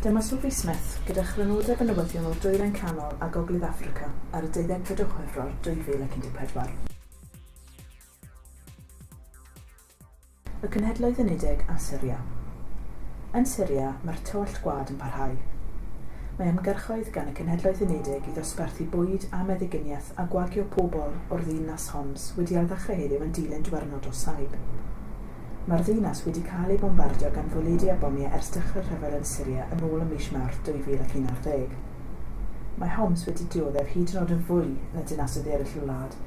Dyma Sophie Smith gyda chrynodeb y newyddion o Dwyrain Canol a Gogledd Affrica ar y deuddegfed o Chwefror 2014. Y Cenhedloedd Unedig a Syria. Yn Syria, mae'r tywallt gwlad yn parhau. Mae ymgyrchoedd gan y Cenhedloedd Unedig i ddosbarthu bwyd a meddyginiaeth a gwagio pobl o'r ddinas Homs wedi ailddechrau heddiw yn dilyn diwrnod o saib. Mae'r ddinas wedi cael ei bombardio gan fwledi a bomiau ers dechrau'r rhyfel yn Syria yn ôl ym mis Mawrth 2011. Mae Homs wedi dioddef hyd yn oed yn fwy na dinasoedd eraill y wlad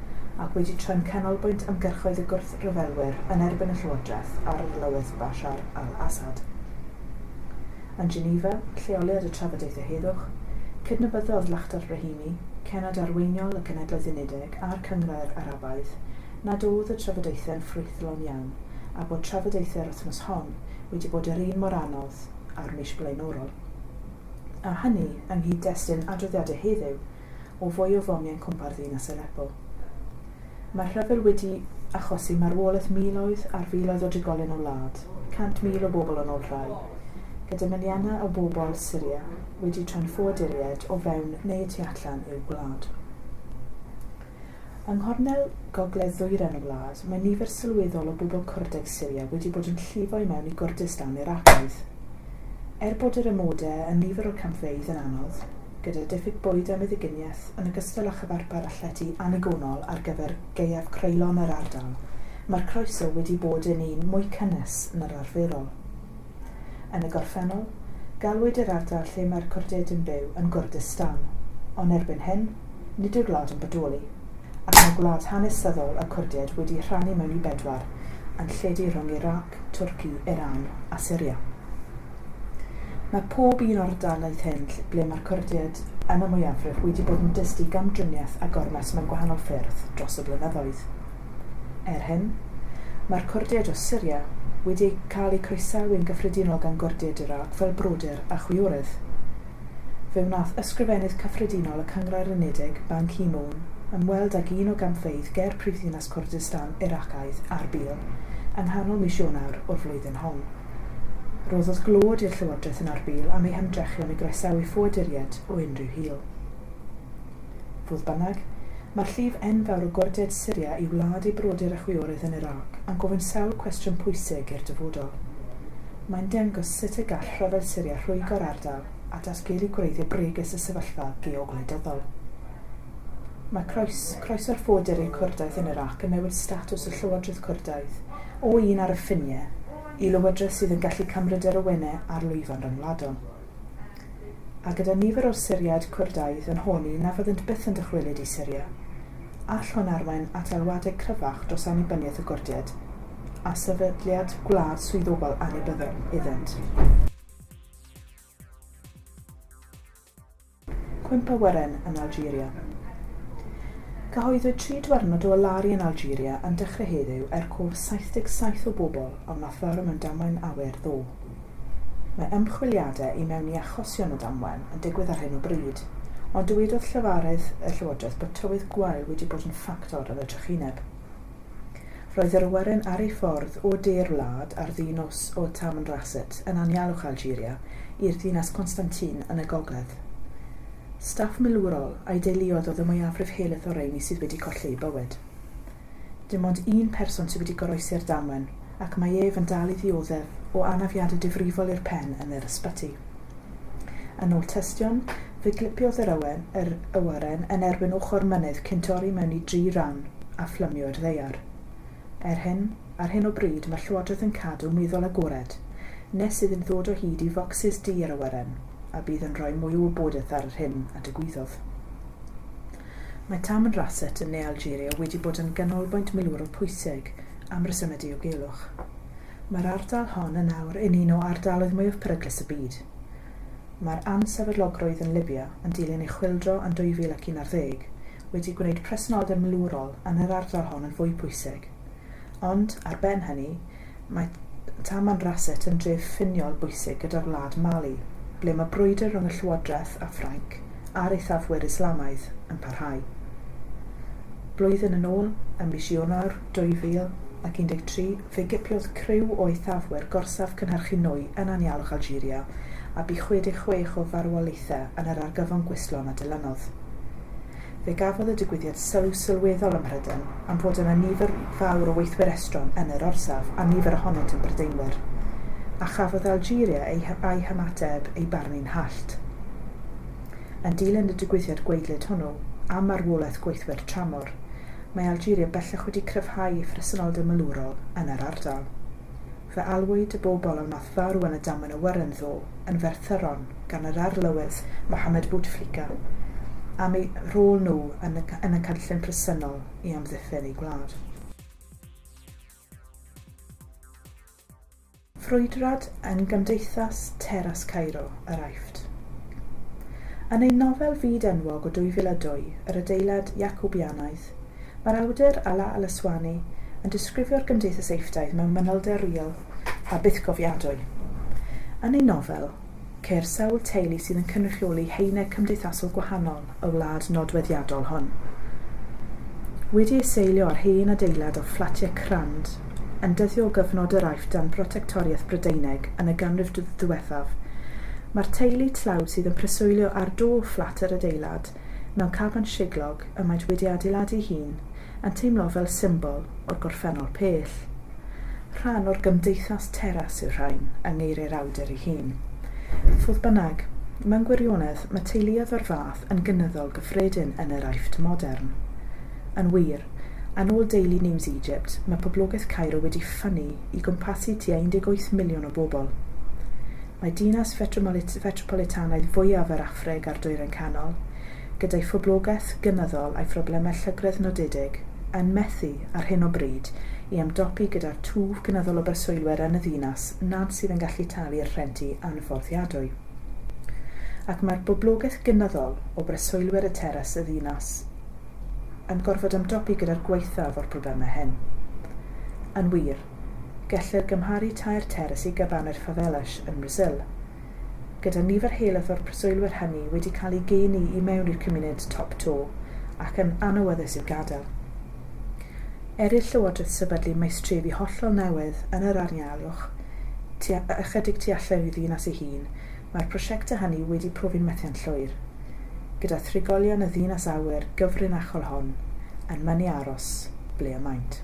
ac wedi troi'n canolbwynt ymgyrchoedd y gwrthryfelwyr yn erbyn y llywodraeth a reolaeth Bashar al-Assad. Yn Geneva, lleoliad y trafodaethau heddwch, cydnabyddodd Lakhdar Brahimi, cenod arweiniol y Cenhedloedd Unedig a'r Cynghrair Arabaidd, nad oedd y trafodaethau'n ffrwythlon iawn a bod trafodaethau'r wythnos hon wedi bod yr un mor anodd â'r mis blaenorol. a hynny yng nghyd-destun adroddiadau heddiw o fwy o fomiau yn cwmpa'r ddinas Aleppo. Mae'r rhyfel wedi achosi marwolaeth miloedd ar filoedd o drigolion y wlad, 100,000 o bobl yn ôl rhai, gyda miliynau o bobl Syria wedi troi'n ffoaduriaid o fewn neu y tu allan i'w gwlad. Yng nghornel gogledd-ddwyrain y wlad, mae nifer sylweddol o bobl Curdeg Syria wedi bod yn llifo i mewn i Gurdistan Iraceaidd. Er bod yr amodau yn nifer o'r campfeydd yn anodd, gyda diffyg bwyd a meddyginiaeth yn ogystal â chyfarpar a llety annigonol ar gyfer gaeaf creulon yr ardal, mae'r croeso wedi bod yn un mwy cynnes na'r arferol. Yn y gorffennol, galwyd yr ardal lle mae'r Cwrded yn byw yn Gurdistan, ond erbyn hyn, nid yw'r wlad yn bodoli, ac mae gwlad hanesyddol y Cwrded wedi'i rhannu mewn i bedwar, yn lledu rhwng Irac, Twrci, Iran a Syria. Mae pob un o'r ardaloedd hyn ble mae'r Cwrded yn y mwyafrif wedi bod yn dyst i gamdriniaeth a gormes mewn gwahanol ffyrdd dros y blynyddoedd. Er hyn, mae'r Cwrdiaid o Syria wedi cael eu croesawu'n gyffredinol gan Gurdiaid Irac fel brodyr a chwiorydd. Fe wnaeth Ysgrifennydd Cyffredinol y Cynghrair Unedig, Ban Ki-moon, ymweld ag un o gampfeydd ger prifddinas Cwrdistan Iracaidd, Arbil, yng nghanol mis Ionawr o'r flwyddyn hon. Rhoddodd glod i'r llywodraeth yn Arbil am ei hymdrechion i groesawu ffoaduriaid o unrhyw hil. Fodd bynnag, mae'r llif enfawr o gorded Syria i wlad ei brodyr a chwiorydd yn Irac yn gofyn sawl cwestiwn pwysig i'r dyfodol. Mae'n dengos sut y gall rhyfel Syria rhwygo'r ardal a datgelu gwreiddiau bregus y sefyllfa geogwleidyddol. Mae croes, croeso'r ffoadur i'r Cwrdaidd yn Irac yn newid statws y llywodraeth Cwrdaidd o un ar y ffiniau i lywodraeth sydd yn gallu cymryd yr awenau ar lwyfan ryngwladol. a gyda nifer o Syriaid Cwrdaidd yn honni na fyddant byth yn dychwelyd i Syria, all hwn arwain at alwadau cryfach dros annibyniaeth y Gwrdiaid a sefydliad gwlad swyddogol annibynnol iddynt. Cwymp awyren yn Algeria. Cyhoeddwyd tri diwrnod o alaru yn Algeria yn dechrau heddiw er cof 77 o bobl a wnaeth farw mewn damwain awyr ddo. Mae ymchwiliadau i mewn i achosion y damwain yn digwydd ar hyn o bryd, ond dywedodd llefarydd y llywodraeth bod tywydd gwael wedi bod yn ffactor yn y trychineb. Roedd yr awyren ar ei ffordd o de'r wlad ar ddu nos o Tamanrasset yn anialwch Algeria i'r dinas Constantine yn y gogledd. Staff milwrol a'i deuluodd oedd y mwyafrif helaeth o'r rheini sydd wedi colli eu bywyd. Dim ond un person sydd wedi goroesi'r damwen ac mae ef yn dal i ddioddef o anafiadau difrifol i'r pen yn yr ysbyty. Yn ôl tystion, fe glipiodd yr ywen, yr awyren, yn erbyn ochr mynydd cyn torri mewn i dri ran a phlymio i'r ddaear. Er hyn, ar hyn o bryd mae Llywodraeth yn cadw meddwl agored nes iddyn ddod o hyd i focsys du yr awyren, a bydd yn rhoi mwy o wybodaeth ar yr hyn a digwyddodd. Mae Taman Rasset yn ne Algeria wedi bod yn ganolbwynt milwrol pwysig am resymau diogelwch. Mae'r ardal hon yn awr yn un o ardaloedd mwyaf peryglus y byd. Mae'r ansefydlogrwydd yn Libya yn dilyn ei chwyldro yn 2011 wedi gwneud presenoldeb milwrol yn yr ardal hon yn fwy pwysig. Ond, ar ben hynny, mae Tamanrasset yn dref ffiniol bwysig gyda'r wlad Mali, ble mae brwydr rhwng y llywodraeth a Ffrainc a'r eithafwyr Islamaidd yn parhau. Blwyddyn yn ôl, ym mis Ionawr, 2013, fe gipiodd criw o eithafwyr gorsaf cynhyrchu nwy yn anialwch Algeria, a bu 66 o farwolaethau yn yr argyfwng gwistlon a dilynodd. Fe gafodd y digwyddiad sylw sylweddol ym Mhrydain am fod yna nifer fawr o weithwyr estron yn yr orsaf, a nifer ohonynt yn Brydeinwyr. A chafodd Algeria ei a'i hymateb ei barnu'n hallt. Yn dilyn y digwyddiad gwaedlyd hwnnw, am marwolaeth gweithwyr tramor, mae Algeria bellach wedi cryfhau ei phresenoldeb milwrol yn yr ardal. Fe alwyd y bobl a wnaeth farw yn y damwain awyren ddoe yn Ferthyron gan yr Arlywydd Mohamed Bouteflika am eu rhôl nhw yn y yn y cynllun presennol i amddiffyn ei gwlad. Ffrwydrad yn Gymdeithas Teras Cairo, yr Aifft. Yn ei nofel fyd-enwog o 2002, Yr Adeilad Jacobianaidd, mae'r awdur Alaa al-Aswany yn disgrifio'r gymdeithas Eiffdaidd mewn manylder real a bythgofiadwy. Yn ei nofel, Ceir sawl teulu sydd yn cynrychioli haenau cymdeithasol gwahanol y wlad nodweddiadol hwn. Wedi ei seilio ar hen adeilad o fflatiau crand yn dyddio o gyfnod yr Aifft dan brotectoriaeth Brydeinig yn y ganrif ddiwethaf, mae'r teulu tlawd sydd yn preswylio ar do fflat yr adeilad mewn caban siglog, y maent wedi adeiladu'i hun yn teimlo fel symbol o'r gorffennol pell. Rhan o'r gymdeithas teras yw'r rhain, yng ngeiriau'r awdur ei hun. Fodd bynnag, mewn gwirionedd, mae teuluoedd o'r fath yn gynyddol gyffredin yn yr Aifft modern. Yn wir, yn ôl Daily News Egypt, mae poblogaeth Cairo wedi ffynnu i gwmpasu tua 18 miliwn o bobl. Mae dinas fetropolitanaidd fwyaf yr Affrig a'r Dwyrain Canol, gyda'i phoblogaeth gynyddol a'i phroblemau llygredd nodedig, yn methu, ar hyn o bryd, i ymdopi gyda'r twf gynyddol o breswylwyr yn y ddinas nad sydd yn gallu talu'r rhenti anfforddiadwy. Ac mae'r boblogaeth gynyddol o breswylwyr y teras y ddinas yn gorfod ymdopi gyda'r gwaethaf o'r problemau hyn. Yn wir, Gellir gymharu tair terrace i gyfanir favelas yn Mrasil, gyda nifer heileth o'r preswylwyr hynny wedi cael eu geni i mewn i'r cymuned top to ac yn anawyddus i'w gadael. Er i'r llywodraeth sefydlu maestrefi hollol newydd yn yr anialwch, tua ychydig tu allan i'w ddinas ei hun, mae'r prosiectau hynny wedi profi'n methiant llwyr, gyda thrigolion y ddinas awyr gyfrinachol hon yn mynnu aros ble y maent.